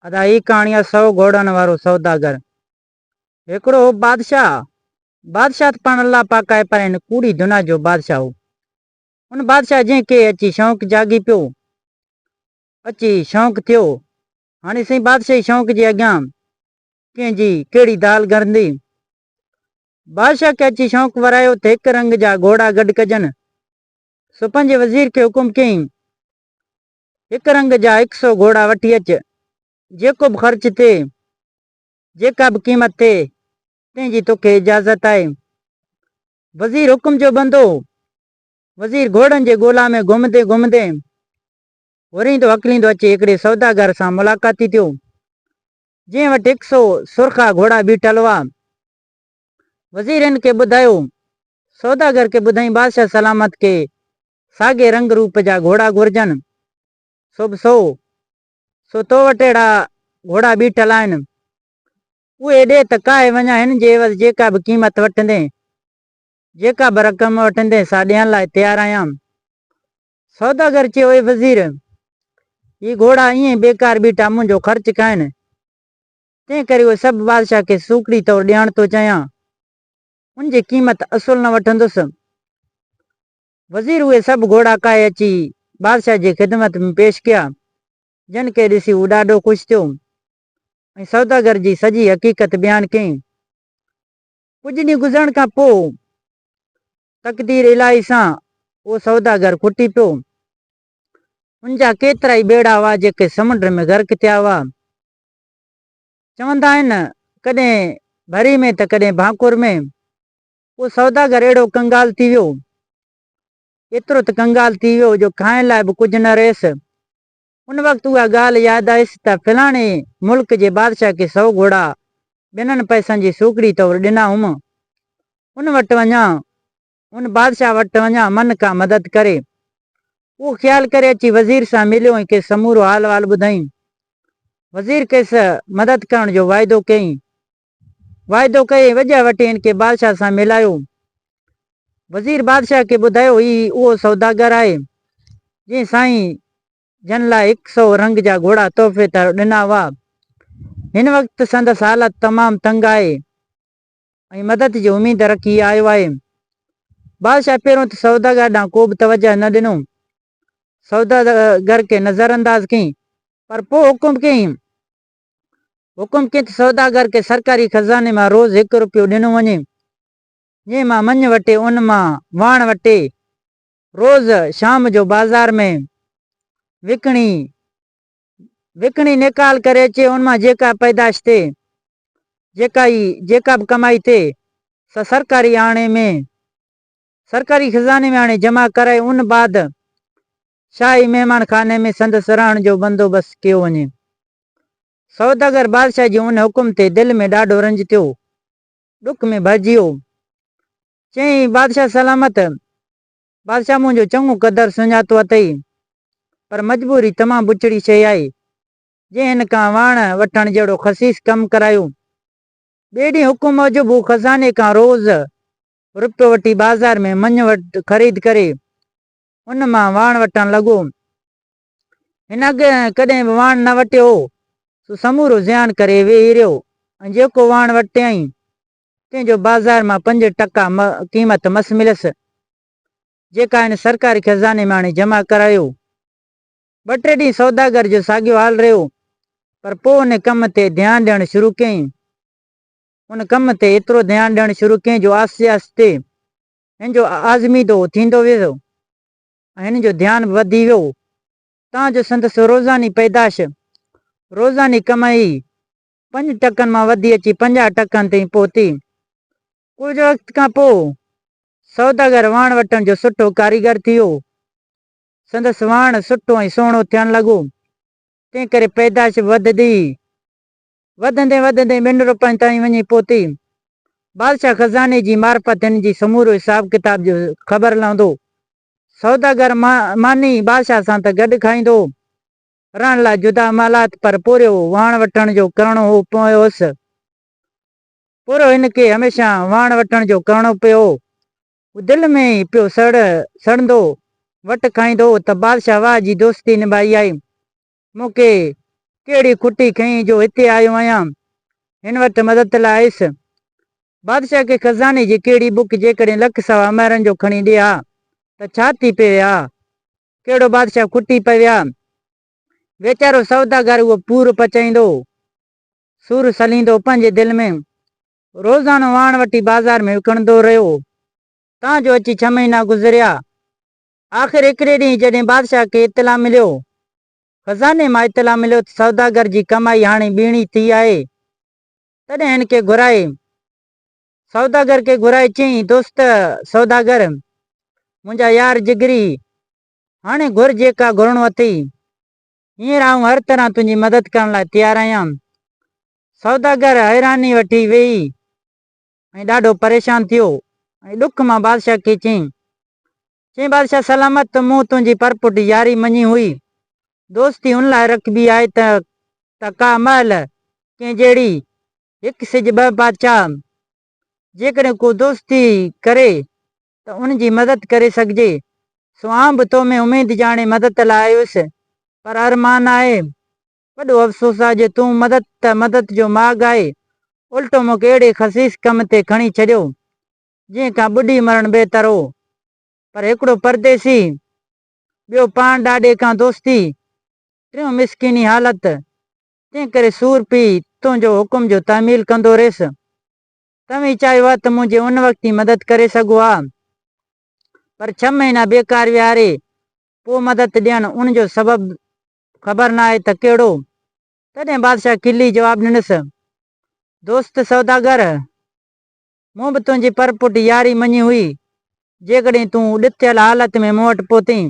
ادا هي ڪهاڻي آ سئو گهوڙن وارو سوداگر. هڪڙو هو بادشاهه. بادشاهه ته پاڻ الله پاڪ آهي پر هن ڪوڙي دنيا جو بادشاهه هو. ان بادشاهه جنهن کي اچي شونق جاڳي پيو. اچي شونق ٿيو. هاڻي سائين بادشاهي شونق جي اڳيان ڪنهن جي ڪهڙي دال گرندي. بادشاهه کي اچي شونق ورايو ته هڪ رنگ جا گهوڙا گڏ ڪجن. سو پنهنجي وزير کي حڪم ڪيائين هڪ رنگ جا هڪ سو گهوڙا وٺي اچ، جيڪو به خرچ ٿئي، جيڪا به قيمت ٿئي، تنهن جي توکي اجازت آهي. وزير حڪم جو بندو هو. وزير گهوڙن جي ڳولا ۾ گهمندي گهمندي وريندو هڪليندو اچي هڪڙي سوداگر سان ملاقاتي ٿيو، جنهن وٽ هڪ سو سرخا گهوڙا بيٺل هئا. وزير هن کي ٻڌايو. سوداگر کي ٻڌائين بادشاهه سلامت کي ساڳئي رنگ روپ جا گهوڙا گهرجن، سو به سو، سو تو وٽ اهڙا گهوڙا بيٺل آهن، اهي ڏي ته ڪاهي وڃان هن جي عيوض جيڪا به قيمت وٺندين، جيڪا به رقم وٺندين سا ڏيڻ لاء تيار آهيان. سوداگر چيو اي وزير! هي گهوڙا ائين ئي بيڪار بيٺا منهنجو خرچ کائن، تنهن ڪري اهي سڀ بادشاهه کي سوکڙي طور ڏيڻ ٿو چاهيان، ان جي قيمت اصل نه وٺندس. وزير اهي سڀ گهوڙا ڪاهي اچي بادشاهه جي خدمت ۾ پيش ڪيا، جن کي ڏسي هو ڏاڍو خوش ٿيو ۽ سوداگر جي سڄي حقيقت بيان ڪيائين. ڪجهه ڏينهن گذرڻ کان پوء تقدير الاهي سان اهو سوداگر کٽي پيو. هن جا ڪيترائي ٻيڙا هئا جيڪي سمنڊ ۾ غرق ٿيا هئا. چوندا آهن ڪڏهن ڀري ۾ ته ڪڏهن ڀانڪور ۾. اهو سوداگر اهڙو ڪنگال ٿي ويو، ايترو ته ڪنگال ٿي ويو جو کائڻ لاء به ڪجهه نه رهيس. ان وقت اها ڳالهه ياد آيس ته فلاڻي ملڪ جي بادشاهه کي سؤ گهوڙا ٻنن پئسن جي سوکڙي طور ڏنا هئم. ان وٽ وڃان، ان بادشاهه وٽ وڃان من ڪا مدد ڪري. اهو خيال ڪري اچي وزير سان مليو ۽ کيس سمورو حال وال ٻڌائين. وزير کيس مدد ڪرڻ جو واعدو ڪيائين. واعدو ڪيو ۽ وڄاء وٽين کي بادشاهه سان ملايو. وزير بادشاهه کي ٻڌايو هي اهو سوداگر آهي، جنهن سائين جن لاء هڪ سئو رنگ جا گهوڙا تحفي طور ڏنا هئا. هن وقت سندس حالت تمام تنگ آهي ۽ مدد جي اميد رکي هي آيو آهي. بادشاهه پهريون ته سوداگر ڏانهن ڪوبه توجهه نه ڏنو. سوداگر کي نظرانداز ڪيائين پر پوء حڪم ڪيائين حڪم ڪيو ته سوداگر کي سرڪاري خزاني مان روز هڪ روپيو ڏنو وڃي، جنهن مان مڃ وٺي ان مان واڻ وٽي روز شام جو بازار ۾ وڪڻي وڪڻي نيڪال ڪري اچي، ان مان جيڪا پيدائش ٿئي، جيڪا ئي جيڪا به ڪمائي ٿئي سا سرڪاري آڻي ۾ سرڪاري خزاني ۾ آڻي جمع ڪرائي ان بعد شاهي مهمان خاني ۾ سندس رهڻ جو بندوبست ڪيو وڃي. سوداگر بادشاهه جي ان حڪم تي دل ۾ ڏاڍو رنج ٿيو. ڏک ۾ ڀرجي ويو. چيائين، بادشاهه سلامت! بادشاهه منهنجو چڱو قدر سڃاتو اٿئي، پر مجبوري تمام بڇڙي شيء آهي، جنهن هن کان واڻ وٺڻ جهڙو خسيس ڪم ڪرايو. ٻئي ڏينهن حڪم موجب هو خزاني کان روز روپيو وٺي بازار ۾ مڃ وٽ خريد ڪري ان مان واڻ وٽڻ لڳو. هن اڳي ڪڏهن به واڻ نه وٽيو هو، سو سمورو زيان ڪري ويهي رهيو ۽ جيڪو واڻ وٽيائين، تنهن جو بازار مان پنج ٽڪا قيمت مس مليس، جيڪا هن سرڪاري خزاني مان آڻي جمع ڪرايو. ٻه ٽي ڏينهن سوداگر جو ساڳيو حال رهيو، پر پوء ان ڪم تي ڌيان ڏيڻ شروع ڪيائين. ان ڪم تي ايترو ڌيان ڏيڻ شروع ڪيائين جو آهستي آهستي هن جو آزميدو ٿيندو ويو ۽ هن جو ڌيان وڌي ويو تان جو سندس روزاني پيدائش، روزاني ڪمائي، پنج ٽڪن مان وڌي اچي پنجاهه ٽڪن تائين پهتي. ڪجهه وقت کان پوء سوداگر واڻ وٽڻ جو سٺو ڪاريگر ٿي ويو. سندس واڻ سٺو ۽ سهڻو ٿيڻ لڳو، تنهن ڪري پيدائش وڌندي وڌندي وڌندي ٻن روپين تائين وڃي پهتي. بادشاهه خزاني جي معرفت هن جي سمورو حساب ڪتاب جو خبر لهندو. سوداگر ماني بادشاهه سان ته گڏ کائيندو هو. رهڻ لاء جدا محلات پر پورهيو وهڻ وٺڻ جو ڪرڻو هو پيوس. پورهيو هن کي هميشه وهڻ وٺڻ جو ڪرڻو پيو هو. هو دل ۾ ئي پيو سڙهندو. وٽ کائيندو هو ته بادشاهه واهه جي دوستي نڀائي آئي. مون کي ڪهڙي کٽي کنئين جو هتي آيو آهيان هن وٽ مدد لاء آيس. بادشاهه کي خزاني جي ڪهڙي بک جيڪڏهن لک سوا مهرن جو کڻي ڏي ها ته ڇا ٿي پوي ها؟ ڪهڙو بادشاهه کٽي پوي ها؟ ويچارو سوداگر اهو پور پچائيندو، سور سليندو پنهنجي دل ۾، روزانو واڻ وٺي بازار ۾ وڪڻندو رهيو، تان جو اچي ڇهه مهينا گذريا، آخر هڪڙي ڏينهن جڏهن بادشاهه کي اطلاع مليو، خزاني مان اطلاع مليو ته سوداگر جي ڪمائي هاڻي ٻيڻي ٿي آهي، تڏهن هن کي گهرائي سوداگر کي گهرائي چيائين، دوست سوداگر، منهنجا يار جگري، هاڻي گهر جيڪا گهرڻو اٿئي، هينئر آئون هر طرح تنهنجي مدد ڪرڻ لاء تيار آهيان. سوداگر حيراني وٺي ويهي ۽ ڏاڍو پريشان ٿيو ۽ ڏک مان بادشاهه کي چيائين، چيائين بادشاهه سلامت ته مون تنهنجي پرپٺ ياري مڃي هئي، دوستي ان لاء رکبي آهي ته ته ڪا مهل ڪنهن جهڙي هڪ سج ٻه بادشاهه جيڪڏهن ڪو دوستي ڪري ته ان جي مدد ڪري سگهجي، سو آئون به تو ۾ اميد جاڻي مدد لاء آيس، پر ارمان آهي وڏو افسوس آ جو تون مدد ته مدد جو ماڳ آهي الٽو مونکي اهڙي خسيس ڪم تي کڻي ڇڏيو جنهن کان ٻڏي مرڻ بهتر هو پر هڪڙو پرديسي ٻيو پاڻ ڏاڏي کان دوستي ٽيون مسڪيني حالت تنهن ڪري سور پي تنهنجو حڪم جو تحميل ڪندو رهيس توهين چاهيو ها ته منهنجي ان وقت ئي مدد ڪري سگهو ها پر ڇهه مهينا بيڪار ويهاري پوء مدد ڏيڻ ان جو سبب خبر ناهي ته ڪهڙو؟ تڏهن بادشاهه کلي جواب ڏنس، دوست سوداگر! مون به تنهنجي پرپٺ ياري مڃي هئي، جيڪڏهن تون ڏتيل حالت ۾ مون وٽ پهتين.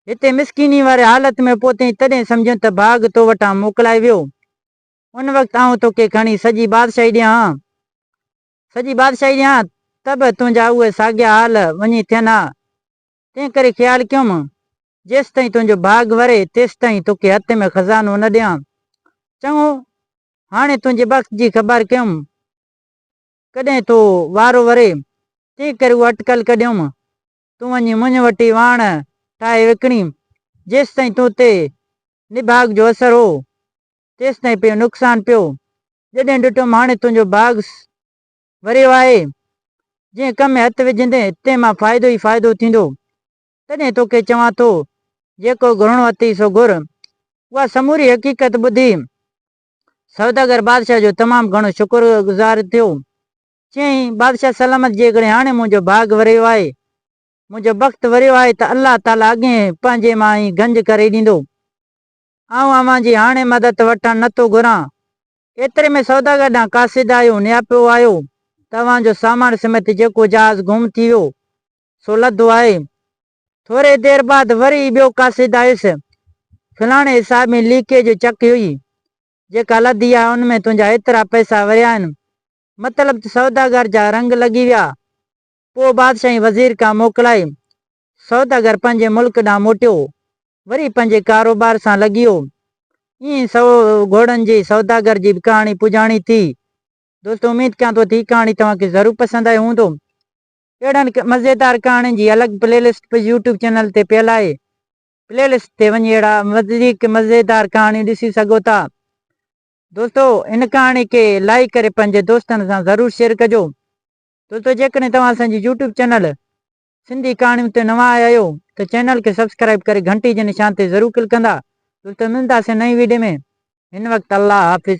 هتي مسڪيني واري حالت ۾ پهتين تڏهن سمجهيم ته ڀاڳ تو وٽان موڪلائي ويو. ان وقت آئون توکي کڻي سڄي بادشاهي ڏيان ها. سڄي بادشاهي ڏيان ته به تنهنجا اهي ساڳيا حال وڃي ٿين ها، تنهن ڪري خيال ڪيوم، جيستائين تنهنجو ڀاڳ وري، تيستائين توکي هٿ ۾ خزانو نه ڏيان. چڱو، هاڻي تنهنجي بخت جي خبر ڪيوم، ڪڏهن تو وارو وري، تنهن ڪري اها اٽڪل ڪڍيوم، تون وڃي منهن وٽ ئي واڻ ٺاهي وڪڻي، جيستائين تو تي نڀاڳ جو اثر هو، تيستائين پيو نقصان پيو. جڏهن ڏٺم هاڻي تنهنجو ڀاڳ ڀريو آهي، جنهن ڪم ۾ هٿ وجهندين تنهن مان فائدو ئي فائدو ٿيندو، تڏهن توکي چوان ٿو، جيڪو گهرڻو اٿئي سو گهر. اها سموري حقيقت ٻڌي سوداگر بادشاهه جو تمام گهڻو شڪرگذار ٿيو. چيائين، بادشاهه سلامت جيڪڏهن هاڻي منهنجو ڀاڳ وريو آهي، منهنجو بخت وريو آهي ته الله تعاليٰ اڳهين پنهنجي مان ئي گنج ڪري ڏيندو. آئون اوهان جي هاڻي مدد وٺڻ نه ٿو گهران. ايتري ۾ سوداگر ڏانهن قاصد آيو، نياپو آيو ته اوهان جو سامان سميت جيڪو جهاز گم ٿي ويو، سو لڌو آهي. ٿوري دير بعد وري ئي ٻيو قاصد آيس. فلاڻي حساب ۾ ليڪيء جو چڪ هئي، جيڪا لڌي آهي، ان ۾ تنهنجا ايترا پئسا وريا آهن. مطلب ته سوداگر جا رنگ لڳي ويا. پوء بادشاهه ۽ وزير کان موڪلائي سوداگر پنهنجي ملڪ ڏانهن موٽيو، وري پنهنجي ڪاروبار سان لڳيو. ائين سؤ گهوڙن جي سوداگر جي به ڪهاڻي پڄاڻي ٿي. دوستو اميد ڪيان ٿو ته هي ڪهاڻي توهان کي ضرور پسند آئي هوندو. اهڙن مزيدار ڪهاڻين جي الڳ پلي لسٽ به يوٽيوب چينل تي پيل آهي. پلي لسٽ تي وڃي اهڙا وڌيڪ مزيدار ڪهاڻيون ڏسي سگهو ٿا. دوستو هن ڪهاڻي کي لائيڪ ڪري پنهنجي دوستن سان ضرور شيئر ڪجو. دوستو جيڪڏهن توهان اسان جي يوٽيوب چينل سنڌي ڪهاڻيون تي نوان آيا آهيو ته چينل کي سبسڪرائيب ڪري گهنٽي جي نشان تي ضرور ڪلڪ ڪندا تلته ملنداسين نئين ويڊيو ۾ هن وقت الله حافظ.